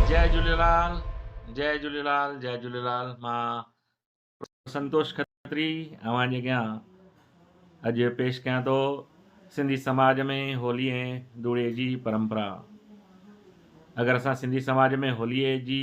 جي جهليلال جي جهليلال جي جهليلال مان سنتوش کتري اوهان جي اڳيان اڄ پيش ڪيان ٿو سنڌي سماج ۾ هولي ۽ دوڙي جي پرمپرا اگر اسان سنڌي سماج ۾ هولي جي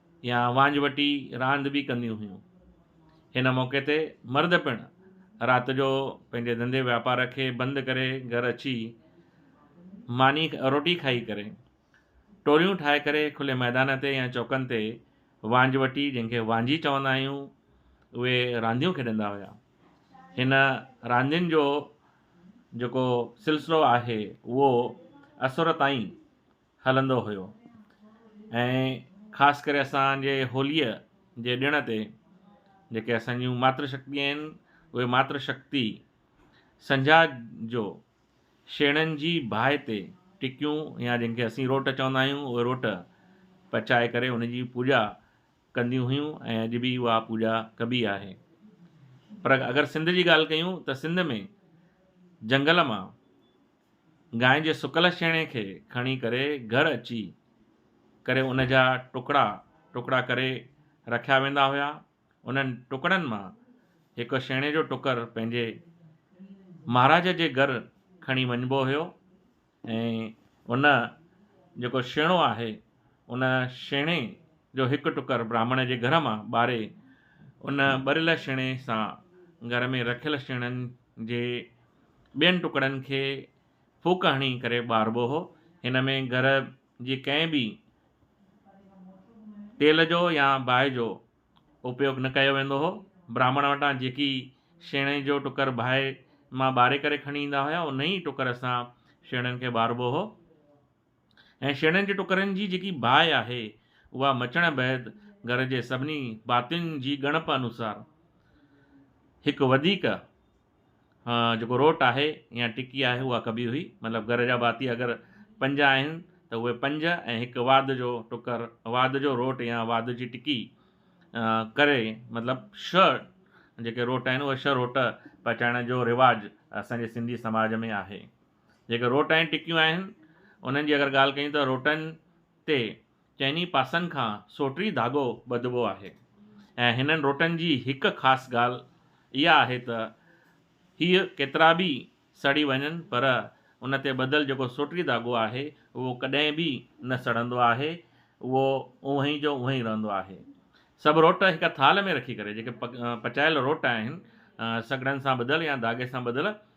يا وانجهوٽي راند به ڪنديون هيون. هن موقعي تي مرد پڻ رات جو پنهنجي ڌنڌي واپار کي بند ڪري گهر اچي ماني روٽي کائي ڪري ٽوليون ٺاهي ڪري کلي ميدان تي يا چوڪن تي وانجهوٽي جنهن کي وانجهي چوندا آهيون اهي رانديون کيڏندا هيا. هن راندين جو جيڪو سلسلو آهي اهو اسور تائين هلندو هيو ۽ خاص ڪري اسانجي هوليء جي ڏڻ تي جيڪي اسانجون ماتر شڪتيون آهن اهي ماتر شڪتي سنجها جو شيڻن جي باهه تي ٽڪيون يا جن کي اسين روٽ چوندا آهيون اهي روٽ پچائي ڪري ان جي پوڄا ڪنديون هيون ۽ اڄ به اها پوڄا ڪبي آهي پر اگر سنڌ جي ڳالهه ڪيون ته سنڌ ۾ جنگل مان گانء جي سڪل شيڻي کي کڻي ڪري گهر اچي ڪري ان جا ٽڪڙا ٽڪڙا ڪري رکيا ويندا هيا. انهن ٽڪڙن مان هڪ شيڻي جو ٽڪر پنهنجي مهاراج جي گهر کڻي وڃبو هيو ۽ ان جيڪو شيڻو آهي، ان شينهن جو هڪ ٽڪر براهمڻ جي گهر مان ٻاري، ان ٻريل شينهن سان گهر ۾ رکيل شينهن جي ٻين ٽڪڙن کي ڦوڪ هڻي ڪري ٻاربو هو. هن ۾ گهر جي ڪنهن به تيل جو يا باهه جو اپيوگ نه ڪيو ويندو هو. براهمڻ وٽان جيڪي شينهن جو ٽڪر باهه مان ٻاري ڪري کڻي ايندا هيا، ان ئي ٽڪر سان شينهن کي ٻاربو هو. ۽ شينهن جي ٽڪرن جي جيڪي باهه آهي، اها مچڻ بعد گهر جي سڀني ڀاتين جي ڳڻپ انوسار هڪ وڌيڪ جيڪو روٽ آهي يا ٽڪي آهي اها ڪبي هئي. مطلب گهر جا ڀاتي اگر پنج آهن ته اهي پنج ۽ هڪ واڌ جو ٽڪر، واڌ جو روٽ يا واڌ جي ٽڪي ڪري مطلب ڇهه جيڪي روٽ آهن اهي ڇهه روٽ پچائڻ جو رواج اسان جي سنڌي سماج ۾ آهي. جيڪي روٽ ۽ ٽڪيون آهن، انهن جي اگر ڳالهه ڪيون ته روٽن تي چئني پاسن کان سوٽري ڌاڳو ٻڌبو آهي ۽ هنن روٽن جي هڪ خاص ڳالهه اها آهي ته هيء ڪيترا به سڙي وڃن پر ان تي ٻڌل جيڪو سوٽري ڌاڳو آهي اهو ڪڏهن به نه سڙندو آهي اهو اونهي جو اونهي رهندو آهي. سڀ روٽ هڪ ٿالهه ۾ رکي ڪري جيڪي پچايل روٽ آهن سگڙن سان ٻڌل يا ڌاڳي سان ٻڌل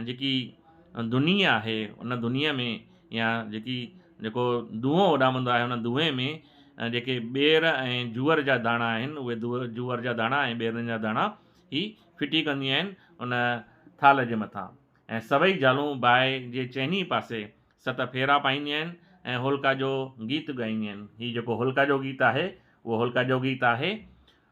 ۽ جيڪي دونهي آهي ان دونهي ۾ يا جيڪي جيڪو دونهو اڏامندو آهي ان دونهي ۾ جيڪي ٻير ۽ جوئر جا داڻا آهن اهي جوئر جا داڻا ۽ ٻيرن جا داڻا هي ڦٽي ڪنديون آهن ان ٿالهه جي مٿان ۽ سڀئي زالون باهه جي چئني پاسي ست ڦيرا پائينديون آهن ۽ هولڪا جو گيت ڳائينديون آهن هي جيڪو هولڪا جو گيت آهي اهو هولڪا جو گيت آهي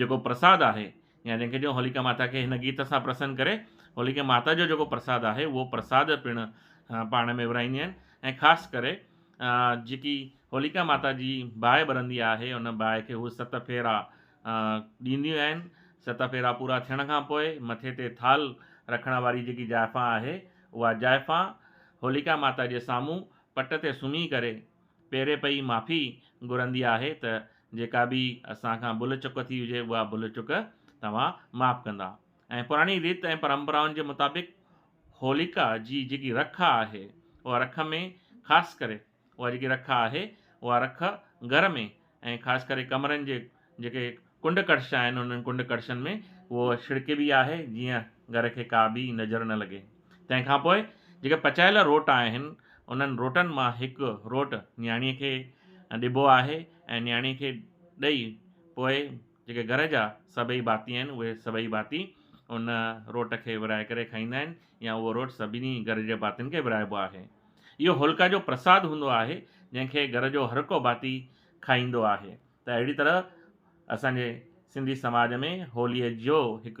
جيڪو پرساد آهي يا جنهن کي چئون هوليڪا ماتا کي هن گيت سان پرسن ڪري هوليڪا ماتا جو جيڪو پرساد آهي اهو پرساد پڻ پاڻ ۾ ورهائينديون آهن ۽ خاص ڪري جيڪي هوليڪا ماتا جي باهه ٻرندي آهي ان باهه کي هو ست ڦيرا ڏينديون آهن ست ڦيرا پورا ٿيڻ کان پوء مٿي تي ٿال رکڻ واري جيڪي جائفا آهي اها جائفا هوليڪا ماتا جي سامهون پٽ تي سمهي ڪري پيري پئي معافي گهرندي آهي ته جيڪا به اسان کان ڀل چڪ ٿي هجي اها ڀل چڪ توهان معاف ڪندا ۽ پراڻي ريت ۽ پرمپرائن جي مطابق هوليڪا جي جيڪي رک آهي اها رک ۾ خاص ڪري اها جيڪي رک آهي اها رک گهر ۾ ۽ خاص ڪري ڪمرن جي جيڪي ڪنڊ ڪڙڇا آهن انهن ڪنڊ ڪڙڇن ۾ هوء ڇڙڪبي آهي جيئن گهر کي ڪا ٻي نظر نه لڳي. تنهن کان پوء جيڪي پچايل روٽ آهن انهن روٽن مان هڪ روٽ نياڻيء کي ڏبو آهي ۽ نياڻيء کي ڏئي پوء جيڪي گهر جا سڀئي ڀاتي آهن، اهي سڀئي ڀاتي ان روٽ کي ورهائي ڪري کائيندا آهن يا اهو روٽ سڀني گهر جي ڀاتين کي ورهائبو آهي. اهو هولڪا جو پرساد هوندو آهي، جنهن کي گهر جو هرڪو ڀاتي کائيندو آهي. ته اهڙي طرح اسان جي سنڌي سماج ۾ هوليء جو هڪ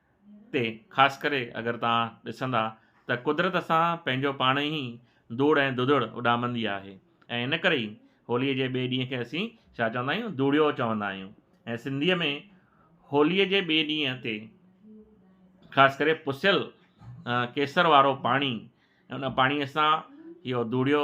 تي خاص ڪري اگر توهان ڏسندا ته قدرت اسان پنهنجو پاڻ ئي ڌوڙ ۽ دڌڙ اڏامندي آهي ۽ ان ڪري ئي هوليء جي ٻئي ڏينهن کي اسين ڇا چوندا آهيون ڌوڙيو چوندا آهيون ۽ سنڌيء ۾ هوليء جي ٻئي ڏينهن تي خاص ڪري پسيل ڪيسر وارو پاڻي ان پاڻيء سان اهو ڌوڙيو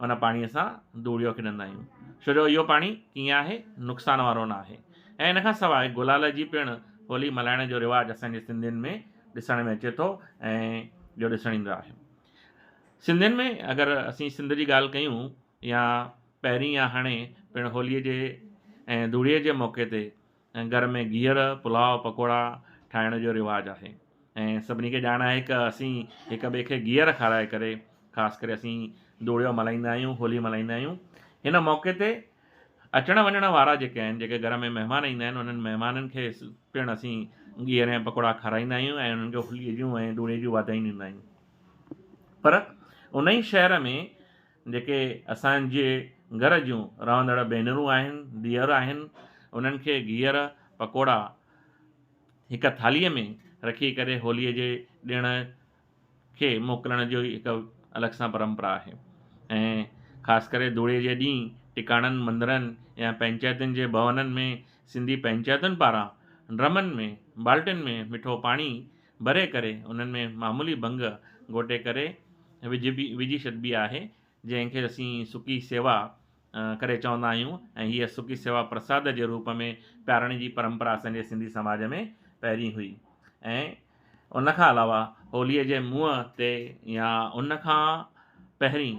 ان پاڻيء سان ڌوڙيو کيڏندا آهيون ڇو جو اهو پاڻي ڪيئن آهي نقصان وارو نه آهي ۽ ان کان سواء گلال جي پڻ هولي ملهائڻ جو رواج اسانجي سنڌين ۾ ڏسڻ ۾ اچي ٿو ۽ جو ڏسڻ ايندو آهي سنڌين ۾ اگر اسين سنڌ جي ڳالهه ڪيون يا پهرين يا هاڻي پڻ هوليء جي ۽ ڌوڙيء جي موقعي تي گهر ۾ گيهر، پلاء، پڪوڙا ٺاهڻ جو رواج آهي ۽ سڀني کي ڄاڻ آهي ڪه اسين هڪ ٻئي کي گيهر کارائي ڪري خاص ڪري اسين دوڙيو ملهائيندا آهيون هولي ملهائيندا آهيون هن موقعي تي اچڻ وڃڻ وارا جيڪي آهن جيڪي گهر ۾ مهمان ايندا آهن انهن مهمانن کي پڻ اسين گيهر ۽ پڪوڙا کارائيندا آهيون ۽ انهن کي هولي جون ۽ دوڙي جون واڌايون ڏيندا آهيون پر انهي شهر ۾ جيڪي اسان جي گهر جون رهندڙ ڀينرون آهن، ڌيئر آهن، انهن کي گيهر پڪوڙا هڪ ٿالهيء ۾ رکي ڪري هوليء جي ڏڻ کي موڪلڻ جي هڪ الڳ سان پرمپرا آهي ۽ خاص ڪري ڌوڙي جي ڏينهن ٽڪاڻن مندرن يا پئنچائتن جي ڀونن ۾ سنڌي پئنچائتن پاران ڊرمن ۾ بالٽين ۾ مٺو پاڻي ڀري ڪري انهن ۾ معمولي ڀنگ گهوٽي ڪري وجهبي وجهي ڇڏبي آهي جنهن کي اسين سڪي سيوا ڪري چوندا آهيون ۽ هيء سڪي سيوا پرساد جي روپ ۾ پيارڻ جي پرمپرا اسان جي سنڌي سماج ۾ پهرين هئي ۽ ان کان علاوه هوليء جي منهن تي يا ان کان پهرين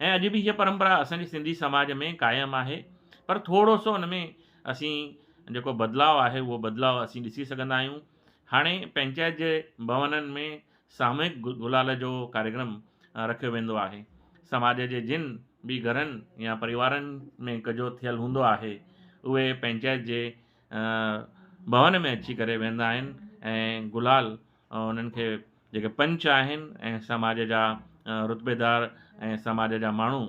۽ اڄ به هيء پرمپرا اسان جي سنڌي سماج ۾ قائم آهي پر ٿورو سو ان ۾ اسين جيڪو بدلاء آهي اهو بدلاء اسين ڏسي سگهندا آهيون هاڻي پنچائت جي ڀونن ۾ ساموهڪ گلال جو ڪاريڪرم رکيو ويندو آهي سماج جي جن به گهرن يا پريوارن ۾ ڪجهو ٿيل هوندو آهي اهي پنچائت جي ڀون ۾ اچي ڪري ويهندا آهن ۽ گلال انهن کي جيڪي پنچ آهن ۽ سماج جا رتبيدار ۽ سماج جا ماڻهو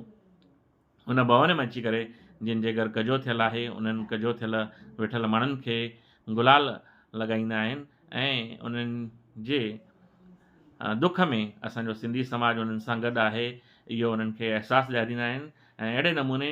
ان ڀون ۾ اچي ڪري جن جي گهر ڪجو ٿيل آهي انهن ڪجو ٿيل ويٺل ماڻهن کي گلال لڳائيندا آهن ۽ انهن جي دک ۾ اسان جو سنڌي سماج انهن سان گڏ آهي اهو انهن کي احساس ڏياريندا آهن ۽ اهڙي نموني